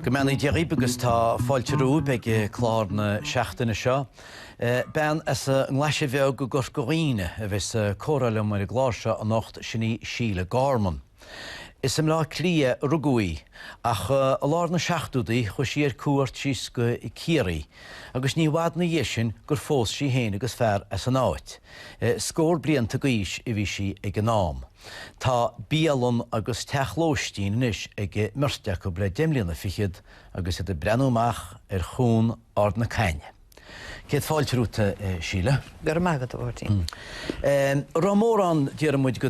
Go mbeannaí Dia dhaoib agus tá fáilte romhaib ag clár na seachtaine seo. Bean as an nGlaise Bheag i gCorca Dhuibhne a bheas ag comhrá liom ar an gclár seo anocht, sin í Síle Gorman. Is i mBleá Cliath a rugadh í, ach i lár na seachtódaí chuaigh sí ar cuairt síos go Ciarraí agus ní i bhfad ina dhiaidh sin gur phós sí féin agus fear as an áit. Scór blianta d'aois a bhí sí ag an am. Tá bialann agus teach lóistín anois ag an mbeirt acu le deich mbliana fichead agus iad ag breathnú amach ar chuan Ard na Caithne. Céad fáilte romhat, Síle. Go raibh maith agat, a Mháirtín. Raibh mórán, déarfaidh muid, go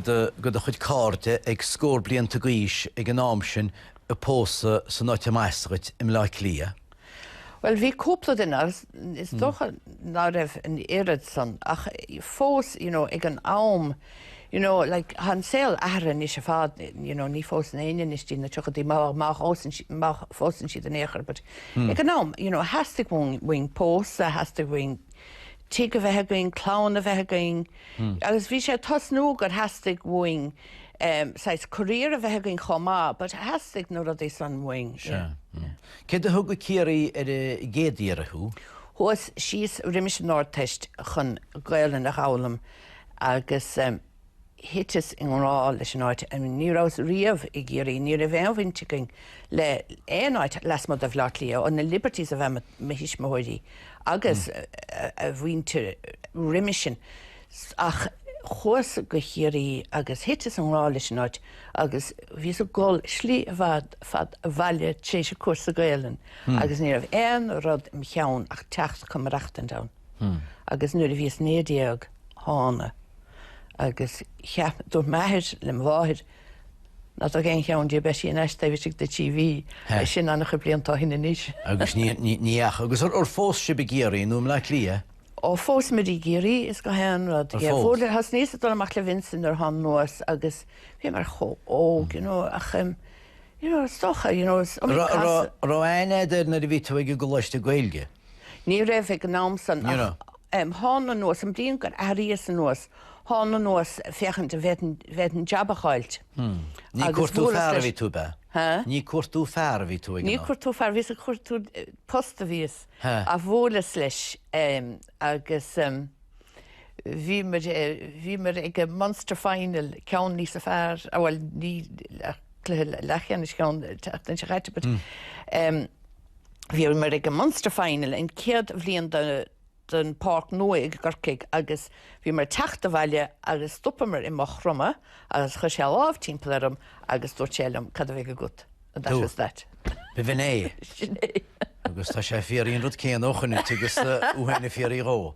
do chuid cairde ag scór blianta d'aois ag an am sin ag pósadh san áit a mb'as dhuit, i mBleá Cliath. Bhuel, bhí cúpla duine agus is dócha ná raibh an oiread san ach fós, you know, ag an am, You know, like, tá an saol athraithe anois ar fad, you know, ní phósann éinne anois dtí na tríochaidí, má, má phósann sí, má phósann siad in aon chor, but ag an am, you know, theastaigh uainn, uainn pósadh, theastaigh uainn tigh a bheith againn, clann a bheith againn, agus bhí sé ag tosnú gur theastaigh uainn, ehm, saghas career a bheith againn chomh maith, but theastaigh na rudaí san uainn, yeah. Céard a thug go Ciarraí ar an gcéad iarraidh thú? Chuas síos roimis an Ardteist chun Gaolainn a dh'fhoghlaim. Agus thiteas i ngrá leis an áit. Ní rabhas riamh i gCiarraí. Ní raibh aon bhaint againn le haon áit lasmuigh de Bhleá Cliath, ó na Liberties ab ea, mo thuismitheoirí agus a muintir roimis sin. Ach chuas go Chiarraí agus thiteas i ngrá leis an áit agus bhíos ag gol slí ar fad abhaile tréis an cúrsa Gaelainne agus ní raibh aon rud im cheann ach teacht chun maireachtaint ann. Agus nuair a bhíos naoi déag thána agus cheap, dúirt m'athair le mo mháthair ná tóg aon cheann di, beidh sí thar n-ais taobh istigh de trí mhí, sin an-chuid blianta ó shin anois. Agus ní, ní, ní ach, agus ar, ar phós sibh i gCiarraí nó i mBleá Cliath? Ó phósamar i gCiarraí is gach aon rud, yeah, bhuel thosnaíos ag dul amach le Vincent nuair a thána anuas agus bhíomar chomh óg, you know, ach em, you know, is dócha, you know, is iomaí casadh. Raibh aithne agat air nuair a bhí tú ag an gcoláiste Gaeilge? Ní raibh ag an am san Ní raibh. Ach thána anuas, an bhliain gur athraíos anuas, thána anuas féachaint an bhféadfainn jab a fháilt. Ní cuartú fear a bhí tú, ab ea? Hea? Ní cuartú fear a bhí tú ag an am? Ní cuartú fear a bhíos ag cuartú post a bhíos. Hea? Ach bhuaileas leis agus bhíomar ag an Munster Final, ceann níosa fearr, bhuel ní, cluiche leathcheannais, ceann seachtaine seo chaite but, Bhíomar ag an Munster Final, an chéad bhliain don Pháirc Nua i gCorcaigh, agus bhíomar ag teacht abhaile agus stopamar i Maigh Chromtha agus chuir sé a lámh timpeall orm agus dúirt sé liom, Cad a bheidh agat? And that was that. B'in é. Sin é. Agus tá sé ag fiafraí an rud céanna ó shin tú agus uaithe na fiafraí dhó.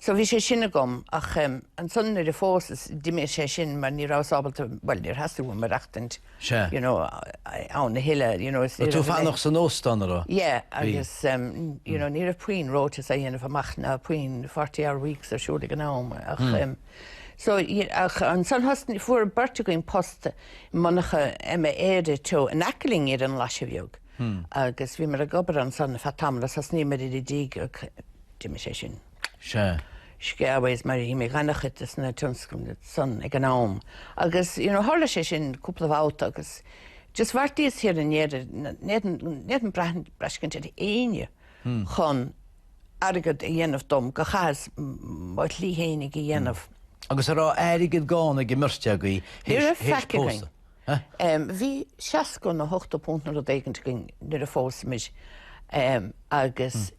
So bhí sé sin agam ach em ansan nuair a phósas d'imigh sé sin mar ní rabhas ábalta, bhuel níor theastaigh uaim maireachtaint Sea. you know ann a thuilleadh you know is Raibh tú fanacht san óstán an raibh? Yeah agus em you know ní raibh puinn rotas á dhéanamh amach ná puinn forty hour weeks ar siúl ag an am ach em so you ach ansan thosnaigh fuair beirt againn post i monarcha Emma Éire teo in aice linn ar an Ghlaise Bheag agus bhíomar ag obair ansan ar feadh tamaill agus thosnaíomar ar an dtigh ach D'imigh sé sin. Sea. Skew-ways mar a d'imigh an-chuid de na tionscnaimh san ag an am agus, you know, tharla sé sin cúpla babhta agus just bheartaíos thiar in Éirinn n'fhéadfainn braistint ar éinne chun airgead a dhéanamh dom gur chaitheas mo shlí fhéin ag a dhéanamh. Agus a raibh airgead gann ag an mbeirt agaibh théis pósadh? Ní raibh faic againn. Huh? Bhí seasca nó ochtó punt nó rud éigint againn nuair a phós muid agus,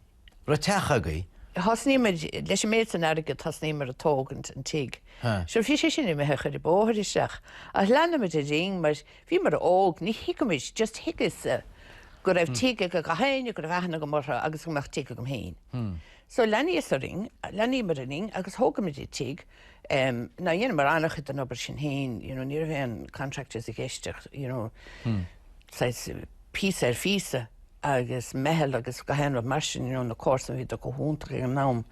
Raibh teach agaibh? Thosnaíomar leis an méid san airgead, thosnaíomar ag tógaint an tigh. So bhí sé sin imithe ag cur an bóthar isteach. Ach leanamair orainn mar bhíomar óg, ní thuigimid, just thuigeas-sa go raibh tigh ag gach éinne, go raibh aithne agam orthu agus go mbeadh tigh agam féin. So leanaíos orainn, leanaíomar orainn agus thógaimid an tigh. now dheineamar an-chuid den obair sin féin, you know, ní raibh aon contractors i gceist ach, you know, saghas píosa ar phíosa agus meitheal agus gach aon rud mar sin, you know, na comharsana bhíodar chomh hiontach ag an am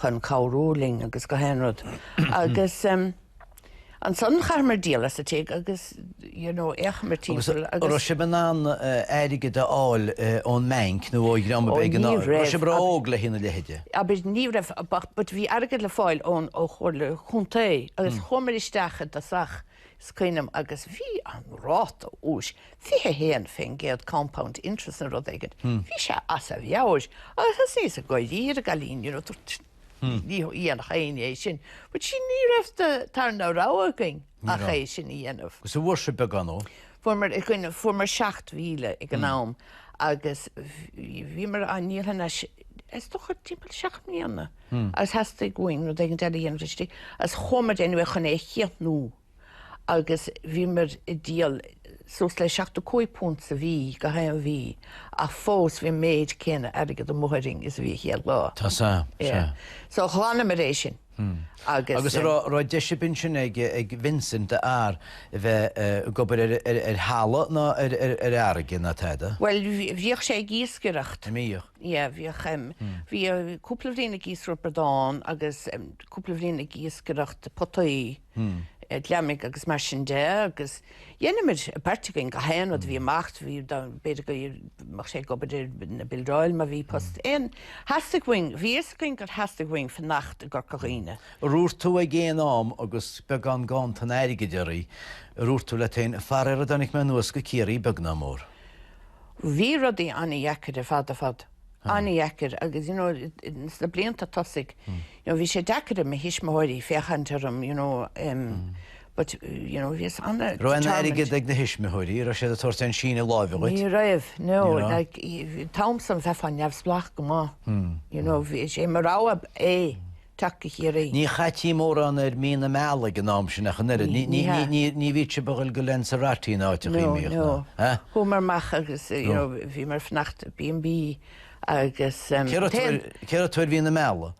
chun cabhrú linn agus gach aon rud. Agus ansan chaitheamar díol as an tigh agus. Agus an raibh sibh in ann airgead a fháil ón mbeainc nó ó dhream ar bith ag an am? Ní raibh. Raibh sibh ró óg le haghaidh a leithéide? Abair ní raibh ach but bhí airgead le fáil ón ó Chomhairle Chontae agus chuamar isteach i dtosach is cuimhin liom agus bhí an ráta úis 21% compound interest nó rud éigin. Bhí sé as a mheabhair agus thosaigh siad go léir ag rá linn you know ní dhéanfadh éinne é sin but see ní raibh an tarna rogha againn. ach é sin a dhéanamh. Agus an bhfuair sibh beagán. Fuaireamar 7,000 ag an am agus bhíomar ag díol as, is dócha timpeall seacht mbliana agus theastaigh uainn rud éigin a dhéanamh leis agus chuamar anyway chun é a chíochniú agus bhíomar ag díol suas le £75 sa mhí, gach aon mhí, ach fós bhí an méid céanna airgid amuigh orainn is a bhí an chéad lá. Tá, sea, sea. So ghlanamar é sin. Agus an raibh deis ar bith ansin ag Vincent d'fhear a bheith ag obair ar thalamh ná ar fharraige ná tada? Bhuel, bhíodh sé ag iascaireacht. An mbíodh? Yeah, bhíodh. Bhí cúpla bhliain ag iascaireacht bradán agus cúpla bhliain ag iascaireacht potaí. gliomaigh agus mar sin de agus dhéanaimis, beirt againn, gach aon rud a bhí amach, bhí, b'fhéidir go mbeadh sé ag obair ar na bildeáil má bhí post ann, theastaigh uainn, bhí a fhios againn gur theastaigh uainn fanacht i gCorca Dhuibhne. Ar dhúirt tú ag aon am agus beagán ganntan airgid oraibh, ar dhúirt tú leat féin, Faraor ar tháinig mé anuas go Ciarraí beag ná mór? Bhí rudaí an-deacair ar fad ar fad. an-deacair agus you know sna blianta tosaigh you know bhí sé deacair ar mo thuismitheoirí féachaint orm you know umm but you know bhíos ana determined. Raibh an airgead ag na tuismitheoirí? Raibh siad ag tabhairt aon síneadh láimhe dhuit? Ní raibh, no, like, táimse an-, bheifeá neamhspleách go maith you know bhí sé mar rogha é teacht go Ciarraí. Ní chaití mórán ar mhí na meala ag an am sin ach an oiread. Ní, ní, ní, ní, ní bhíodh sibh ag dul go Lanzarote ná aon áit? No, no. Chuamar amach agus you know bhíomar fanacht i B&B agus um, Cé raibh tú ar, cé raibh tú ar mhí na meala?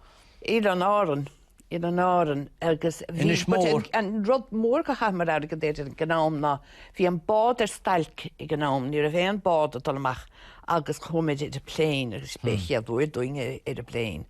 Oileán Árann, Oileán Árann agus bhí an rud mór go chaitheamar airgead air ag an am ná bhí an bád ar stailc ag an am, ní raibh aon bád ag dul amach agus chuamair ar an plane agus b'é an chéad uair dúinn ar ar an plane.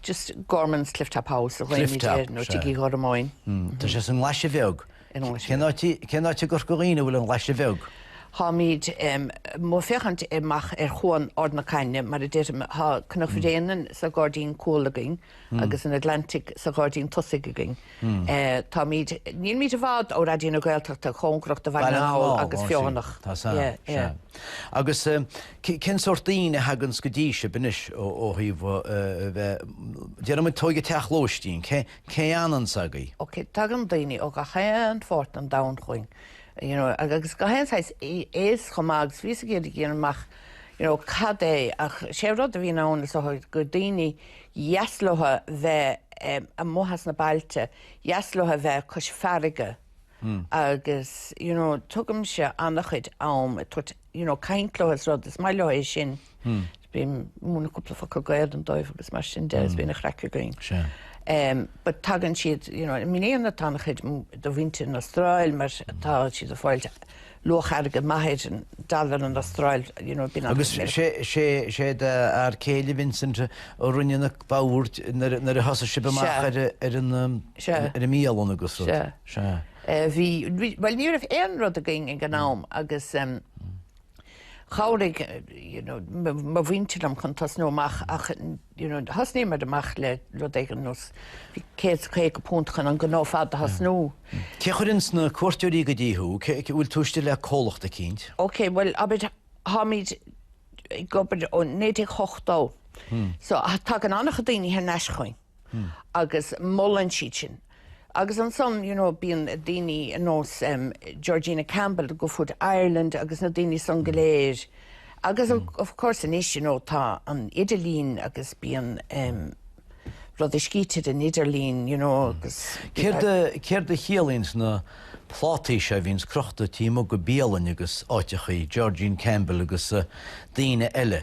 Just Gormans, Cliff Top House a deirimid nó Tigh Uí Ghormáin. Tá sé sa nGlaise Bheag. Cén áit i gCorca Dhuibhne a bhfuil an Glaise Bheag? Táimid amuigh ag féachaint amach ar Chuan Ard na Caithne, mar a deirim. Tá Cnoc Bhréanainn sa ghairdín cúil againn agus an Atlantic sa ghairdín tosaigh againn. Táimid, nílimid i bhfad ó Raidió na Gaeltachta, cóngarach do Bhaile na nGall agus Feothanach. Tá, sea, sea. Agus cén sórt daoine a thaganns go dtí sibh anois ó thaobh, déarfaidh muid, tóg an teach lóistín, cé fhananns agaibh? Ok, tagann daoine ó gach aon pháirt den domhan chugainn, you know, agus gach aon saghas aos chomh maith agus bhíos ag iarraidh a dhéanamh amach, you know, cad é ach sé rud a bhíonn ann is dócha gur daoine dheas leo a bheith amuigh as na bailte, dheas leo a bheith cois farraige agus you know tugaimse ana-chuid am ag tabhairt you know caint leo is rud, is maith leo é sin. Bím ag múineadh cúpla focal Gaolainne dóibh agus mar sin de is bíonn an chraic againn. But tagann siad, you know i mbliana tá ana-chuid de mhuintir an Astráil mar tá siad ag fáil luach airgid maith ar an dollar an Astráil, you know, being honest. Agus sé, sé d'fhear céile Vincent a rinne na boird nuair a thosaigh sibh amach ar an, ar an mbialann agus rud. Sea. Bhí, bhuel ní raibh aon rud againn ag an am agus chabhraigh, you know, mo mhuintir liom chun tosnú amach ach you know, thosnaíomar amach le rud éigin nós £150 chun an gnó ar fad a thosnú. Cé a chuireanns na cuairteoirí go dtí thú? An bhfuil tú istigh le comhlacht eicínt? Ok, bhuel, abair, tháimid ag obair ó 1980, so tagann an-chuid daoine thar n-ais chugainn agus molann siad sinn. Agus ansan, you know, bíonn daoine ar nós Georgina Campbell Good Food Ireland agus na daoine san go léir agus of course anois, you know, tá an idirlín agus bíonn rudaí scríte ar an idirlín, you know, agus. Céard a, céard a chiallaíonns na plátaí seo a bhíonns crochta taobh amuigh de bhialainn agus áiteachaí, Georgina Campbell agus daoine eile?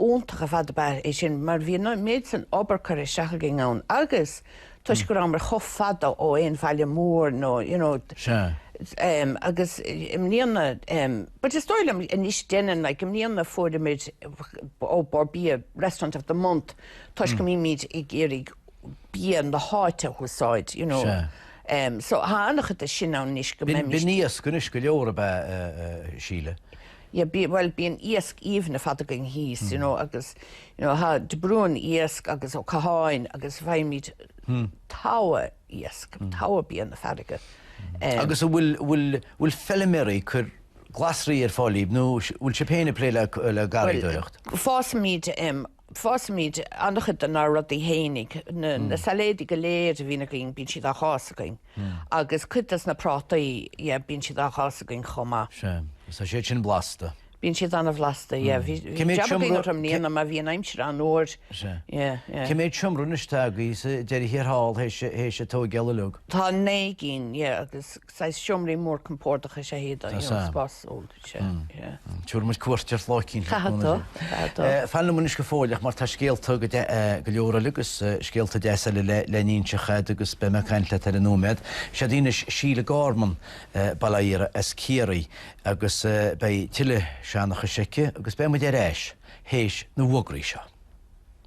iontach ar fad ab ea é sin mar bhí an méid san obair curtha isteach againn ann agus toisc go rabhamar chomh fada ó aon bhaile mór nó you know agus i mbliana but is dóigh liom anois deineann like i mbliana fuaireamid ó Bhord Bia restaurant of the month toisc go mbímid ag iarraidh bia na háite a úsáid you know so tá an-chuid de sin ann anois go mbeimid. B'in iasc anois go leor ab ea a Síle? Yeah, bí, bhuel, bíonn iasc aoibhinn ar fad againn thíos, you know, agus, you know, tá De Brún Iasc agus Ó Catháin agus bhfaighimid togha iasc, togha bia na farraige. Eh, Agus a bhfuil, bhfuil, bhfuil feiliméaraí ag cur glasraí ar fáil daoibh nó s- bhfuil sibh féin ag plé le, le garraíodóireacht? Bhuel, fásaimid em, fásaimid an-chuid de nár rudaí féinig, na sailéadaí go léir a bhíonn againn bíonn siad ag fás againn agus cuid des na prátaí yeah bíonn siad ag fás againn chomh maith. Sea, tá siad sin blasta. Bíonn siad an-bhlasta yeah, bhí jab againn orthu i mbliana mar bhí an aimsir an-fhuar. Sea. Yeah, yeah. Cé mhéad seomra anois atá agaí sa deireadh thiar thall théis théis an tógáil uilig? Tá naoi gcinn yeah agus saghas seomraí mór compordach is ea iad, you know, spásúil, yeah. Tabharfaidh muid cuairt ort lá eicínt. Tá do, tá do. Fan liom anois go fóilleach mar tá scéalta go de, go leor eile agus scéalta deasa eile le, le n-inseacht agat agus beidh mé ag caint leat ar an nóiméad. Siod í anois Síle Gorman, bail ó Dhia uirthi as Ciarraí agus beidh tuilleadh seanchais aici agus beidh muid ar ais théis na bhfógraí seo.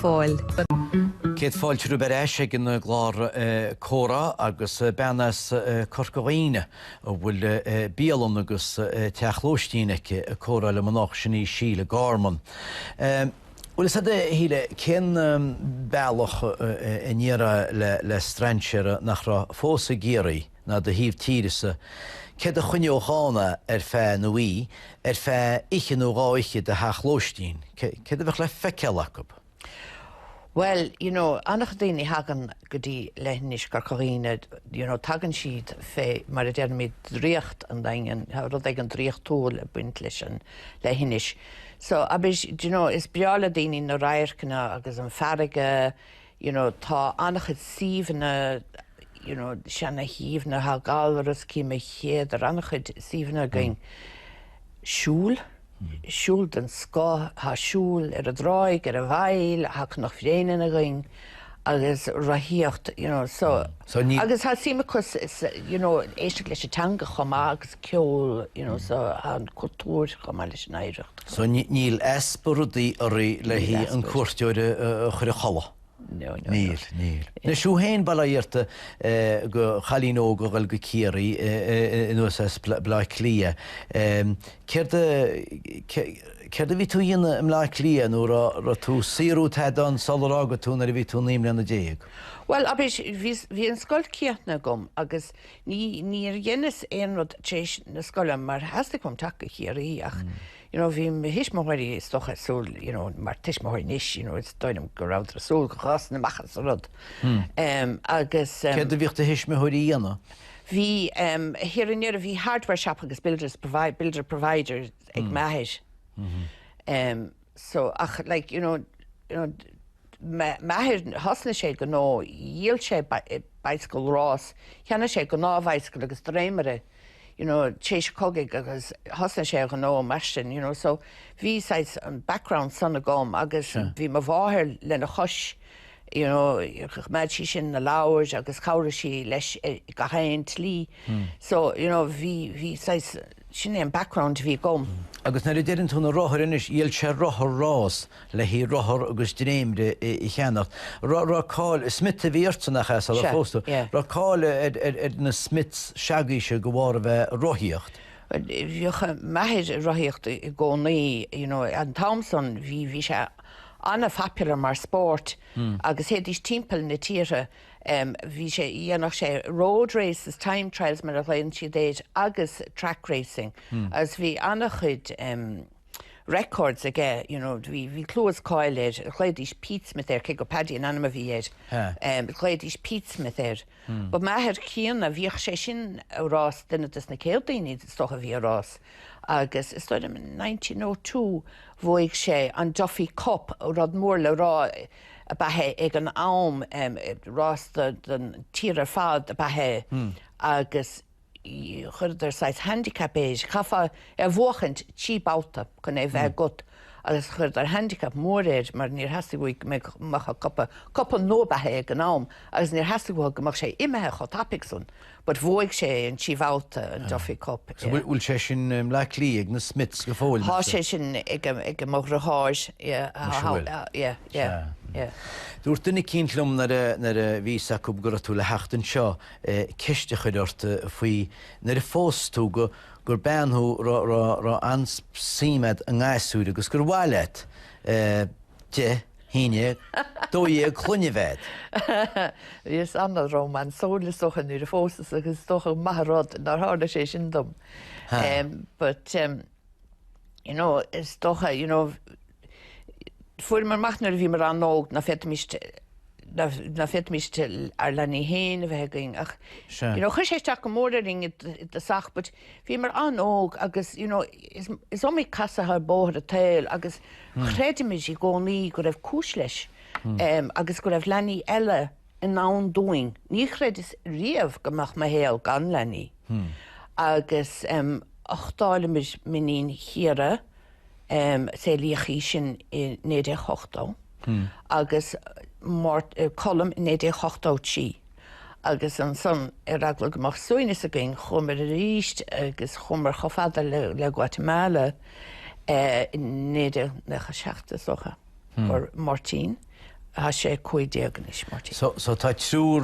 Fáil. Céad fáilte romhaibh ar ais ag an gclár Comhrá agus bean as Corca Dhuibhne a bhfuil bialann agus teach lóistín aici ag comhrá liom anocht, sin í Síle Gorman. Bhuel, is fhada, a Shíle, cén bealach a ndéarfá le strainséir nach raibh fós i gCiarraí? ná do thaobh tíre-sa, céard a choinneodh ann, a, ar feadh na hoí, ar feadh oiche nó dhá oíche i do theach lóistín, céard a bheadh le feiceáil acu. Bhuel, you know, an-chuid daoine a thagann go dtí leithinis Chorca Dhuibhne, you know, tagann siad fé, mar a deirimid, draíocht an Daingin, tá rud éigin draíochtúil ag baint leis an leithinis. So, obviously, you know, is breá le daoine na radharcanna agus an farraige, you know tá an-chuid suíomhanna you know seana-shuíomhanna tá Gallarus Cill Maoilchéadair an-chuid suíomhanna againn siúl siúl den scoth tá siúl ar an dtráigh ar an bhfaill tá Cnoc Bréanainn againn agus rothaíocht you know so So ní agus tá suim acu sa sa you know éisteacht leis an teanga chomh maith agus ceol you know so tá an cultúr chomh maith leis an oidhreacht. So níl easpa rudaí ar bith le haghaidh an cuairteoir a chur a chodladh. Níl, níl. Anois, thú féin, bail ó Dhia ort, i do chailín óg ag goil go Ciarraí anuas as Baile Átha Cliath. Céard a, céard a bhí tú a dhéanamh i mBaile Átha Cliath nó an raibh tú, cá raibh tú i dtosach, sular fhága tú nuair a bhí tú naoi mbliana déag? Bhuel, obviously, bhí, bhí an scoil déanta agam agus ní, níor dheineas aon rud tar éis na scoile mar theastaigh uaim teacht go Ciarraí ach you know bhí mo thuismitheoirí is dócha ag súil you know mar tuismitheoirí anois you know is dóigh liom go rabhadar ag súil go bhfásfainn amach as an rud em agus em Céard a bhíodh do thuismitheoirí a dhéanamh? bhí em thiar i ndeireadh bhí hardware shop agus builders provi, builder provider ag m'athair em. so ach like you know you know m'athair thosnaigh sé gnó dhíol sé bicycle rás cheannaigh sé gnáthbhicycle agus dréimire you know tar éis an chogaidh agus thosnaigh sé a ghnó mar sin you know so bhí saghas an background san agam agus bhí mo mháthair lena chois you know choimeád sí sin na leabhair agus chabhraigh sí leis eh, gach aon tslí hmm. so you know bhí bhí saghas Sin é an background a bhí agam. Agus nuair a deireann tú na rothair anois, dhíol sé rothar rás le haghaidh rothar agus dréimre a cheannacht. Raibh cáil, Smith a bhí ortsa nach ea, sular phós tú? Raibh cáil ar na Smiths se'agaibhse de bharr a bheith ag rothaíocht? Bhíodh m'athair ag rothaíocht i gcónaí, you know, an t-am san bhí sé an-phopular mar spórt agus théidís timpeall na tíre. Bhí sé, dhéanfadh sé road races, time trials mar a ghlaonn siad air agus track racing agus bhí an-chuid records aige, you know, bhí, bhí clú is cáil air, ghlaoidís Pete Smith air, cé gur Paddy an ainm a bhí air, ghlaoidís Pete Smith air. But m'athair críonna, bhíodh sé sin ag rás, duine des na céad daoine is dócha a bhí ag rás agus is dóigh liom in nineteen oh two bhuaigh sé an Duffy Cup, rud mór le rá, ab ea é ag an am, rás don tír ar fad ab ea é agus chuireadar saghas handicap air, chaithfeá é a bhuachaint trí babhta chun é a bheith agat agus chuireadar handicap mór air mar níor theastaigh uathu go mbeadh, mbeadh an cupa, cupa nua ab ea é ag an am, agus níor theastaigh uathu go mbeadh sé imithe chomh tapaidh san. But bhuaigh sé é an trí babhta, an Duffy Cup, i. So bhfuil sé sin i mBleá Cliath ag na Smiths go fóill? Tá sé sin ag mo dhriotháir, yeah, Anois a bhfuil. yeah, yeah, yeah. Dúirt duine eicínt liom nuair a, nuair a bhí a fhios acu go raibh tú le theacht anseo ceist a chur ort faoi nuair a phós tú go, gur bean thú ra, ra, raibh an-suim agat i ngasúir agus gur mhaith leat a dó. haon déag, dó dhéag clainne a bheith agat. Bhíos an-rómansúil, is dócha, nuair a phósas agus is dócha go maith an rud nár tharla sé sin dom. But, you know, is dócha, you know, fuaireamar amach nuair a bhíomar an-óg nach bhféadfaimis, nach bhféadfaimis ár leanaí féin a bheith againn ach, you know, chuir sé isteach go mór orainn i dtosach but, Bhíomar an-óg agus you know is iomaí casadh ar bhóthar an tsaoil agus chreideamair i gcónaí go raibh cúis leis agus go raibh leanaí eile i ndán dúinn. Ní chreidfinn riamh go mbeadh mo shaol gan leanaí. Agus uchtálamair m'iníon Chiara. Saolaíodh í sin i 1980 agus Colm i 1983 agus ansan ar eagla go mbeadh suaimhneas againn chuamar arís agus chuamar chomh fada le Guatemala i 1997 is dócha. gur Máirtín. Tá sé cúig déag anois, Máirtín. So, so tá triúr,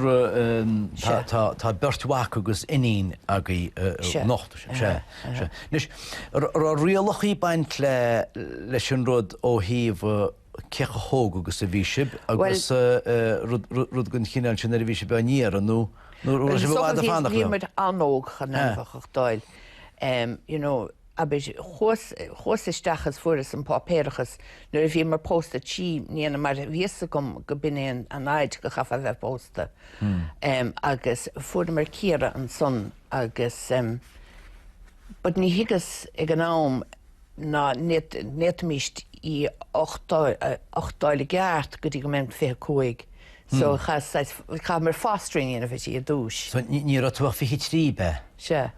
tá, tá, tá beirt mhac agus iníon agaibh anocht, is ea, is ea. Anois, raibh rialacha ag baint le, leis an rud ó thaobh cé chomh hóg agus a bhí sibh agus rud, rud, rud den chineál sin nuair a bhí sibh á n-iarraidh nó, nó raibh sibh i bhfad ag fanacht leo? Bhíomar an-óg chun éinne a dh'fháil, you know. Abair, chuas, chuas isteach is fuaireas an páipéarachas nuair a bhíomar pósta, trí mbliana mar bhí 'fhios agam go b'in é an an fhaid go chaithfeá bheith pósta. em, agus fuaireamar Ciara ansan agus em, but ní thuigeas ag an am ná n'fhéad, n'fhéadfaimíst í a uchtáil, a uchtáil i gceart go dtí go mbeinn fiche cúig so chas, saghas, chaitheamar fostering a dhéanamh uirthi ar dtúis. So ní, ní raibh tú ach fiche trí, b'ea? Sea.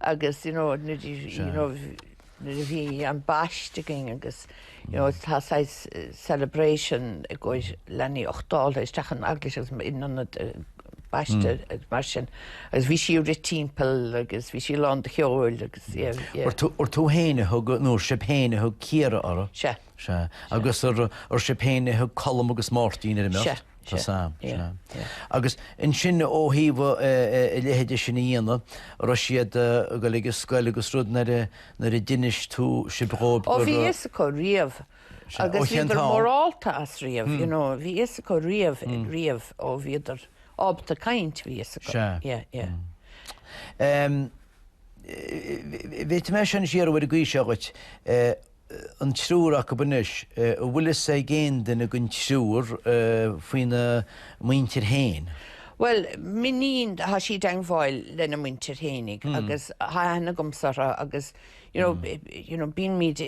agus you know nuair you know nuair a bhí an baist againn agus you know tá saghas celebration i gcomhair leanaí uchtáilte isteach an Eaglais agus in ionad baiste agus mar sin agus bhí sí ag rith timpeall agus bhí sí lán de cheoil agus yeah yeah. Ar tú ar tú fhéin a thug nó ar sibh fhéin a thug Ciara uirthi? Sea. Sea. Agus ar ar sibh fhéin a thug Colm agus Máirtín ar an mbeirt? Sea. Tá fhios a'm, sea. Agus ansin ó thaobh a leithéid de sin a dhéanamh, raibh siad ag goil ag an scoil agus rud nuair a nuair a d'inis tú sibh dhóibh gur. Ó bhí a fhios acu riamh agus bhíodar mórálta as riamh, you know, bhí a fhios acu riamh, riamh ó bhíodar ábalta caint, bhí a fhios acu. Sea. Yeah, yeah. Bhféadfaidh mé seo anois iarraidh a bhfuil a fhios agat. an triúr acu anois, an bhfuil fhios ag aon duine den triúr faoina muintir féin? Bhuel, m'iníon, tá sí i dteangmháil lena muintir féinig agus tá aithne agamsa orthu agus, you know, you know, bímid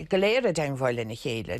go léir i dteangmháil lena chéile.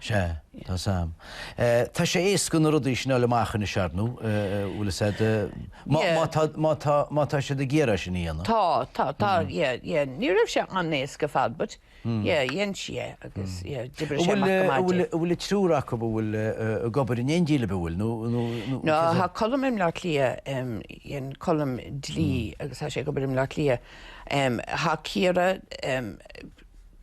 Sea. Tá fhios a'm. Tá sé éasca na rudaí sin a fháil amach anois, ar ndú, bhfuil 'fhios a'd, má tá, má tá, má tá siad ag iarraidh é sin a dhéanamh. Tá, tá, tá, yeah, yeah. Ní raibh sé an-éasca ar fad but, yeah, dhein sí é agus, yeah, d'oibrigh sé amach go maith di. Bhfuil an triúr acu a bhfuil ag obair in éindí libh, bhfuil, nó, nó, nó? No, tá Colm i mBleá Cliath, em, dhein Colm dlí agus tá sé ag obair i mBleá Cliath. Em, tá Ciara, em,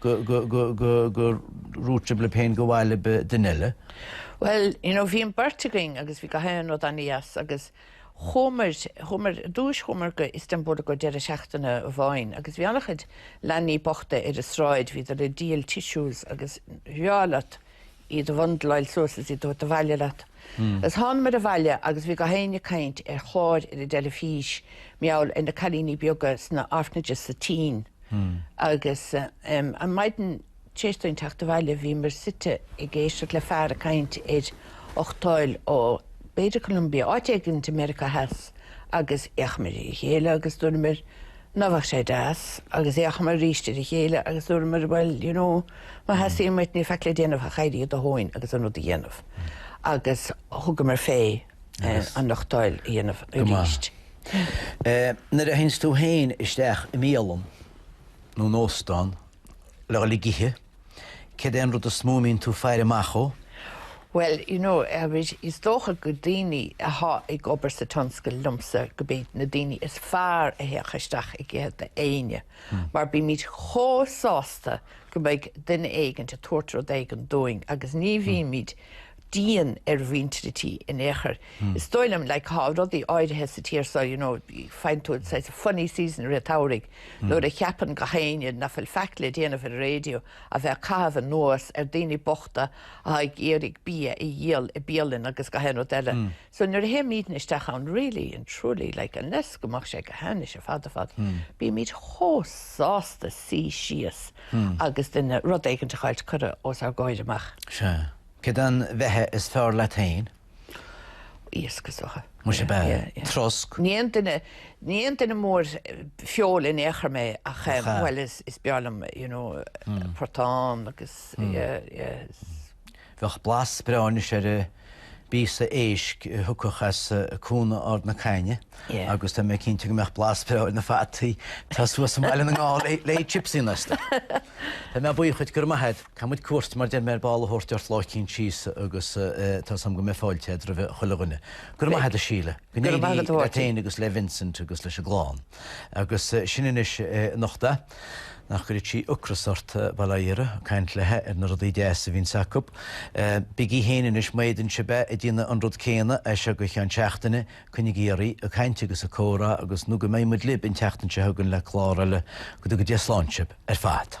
gur dhúirt sibh libh féin gur mhaith libh duine eile. Bhuel, you know, bhí an beirt againn agus bhí gach aon rud an-deas agus chuamar, chuamar, ar dtúis chuamar go Istanbul i gcomhair deireadh seachtaine amháin agus bhí an-chuid leanaí bochta ar an sráid, bhíodar ag díol tissues agus, you know, bhreá leat. iad a bhundleáil suas is iad a thabhairt abhaile leat is thánamair abhaile agus bhí gach éinne ag caint ar chlár ar an dteilifís mar gheall ar na cailíní beaga sna orphanages sa tSín agus em an maidin tar éis dúinn teacht abhaile bhíomair suite ag éisteacht le fear ag caint ar uchtáil ó b'fhéidir Colombia áit éigint i Meiriceá Theas agus fhéachamair ar a chéile agus dúramair Ná beadh sé deas agus fhéachamar arís ar a chéile agus dúramar bhuel, you know, má theastaíonn uait, níl faic le déanamh ach éirí de do thóin agus an rud a dhéanamh. Agus thugamar fén uchtáil a dhéanamh aríst. Nuair a théanns tú héin isteach i mbialann nó in óstán le dhul ag ithe, Cén rud is mó a mbíonn tú ag faire amach dhó? Bhuel, you know, is dócha go daoine atá ag obair sa tionscal linn-se gurb iad na daoine is fearr a thiocfadh isteach chuig éinne mar bímid chomh sásta go mbeidh duine éigint ag tabhairt rud éigint dúinn agus ní bhímid dian ar mhuintir an tí in aon chor. Is dóigh liom, like, tá rudaí áirithe sa tír seo, you know, faigheann tú saghas funny season i rith an tsamhraidh nuair a cheapann gach éinne ná fuil faic le déanamh ar an raidió ach bheith ag caitheamh anuas ar daoine bochta atá ag iarraidh bia a dhíol i bialann agus gach aon rud eile. So nuair a théimidne isteach ann, really and truly, like, unless go mbeadh sé go hainnis ar fad ar fad, bímid chomh sásta suí síos agus duine, rud éigint a fháilt curtha os ár gcomhair amach. Sea. Cén bheatha is fearr leat héin? Iasc is dócha. Muise ab ea! Trosc? Ní aon duine, ní aon duine mór feola in aon chor mé ach eh, Cha. bhuel is, is breá liom you know portán agus yeah, yeah. Bheadh blas breá anois ar phíosa éisc a thiocfadh as eh, Cuan Ard na Caithne Yeah. agus tá mé cinnte go mbeadh blas breá ar na fataí atá suas i mBaile na nGall le, le Chipsy Nesta. Tá mé buíoch duit, go raibh maith agat. Caithfidh muid cuairt, mar a deir mé, ar ball a thabhairt ort lá eicínt síos agus tá súil agam go mbeidh fáilte agat roimh chuile dhuine. Go raibh maith agat a Síle. Go n-éirí leat fhéin agus le Vincent agus leis an gclann. Agus sin anois Nóra, nach gcuirfeadh sí ocras ort, bail ó Dhia uirthi, ag caint léi ar na rudaí deas a bhíonns acu. Bígí fhéin anois, má fhéadann sibh é, ag déanamh an rud céanna as seo go ceann seachtaine, coinnigí oraibh ag caint agus ag comhrá agus nó go mbeidh muid libh an tseachtain seo chugainn le clár eile. Go dtuga Dia slán sibh ar fad.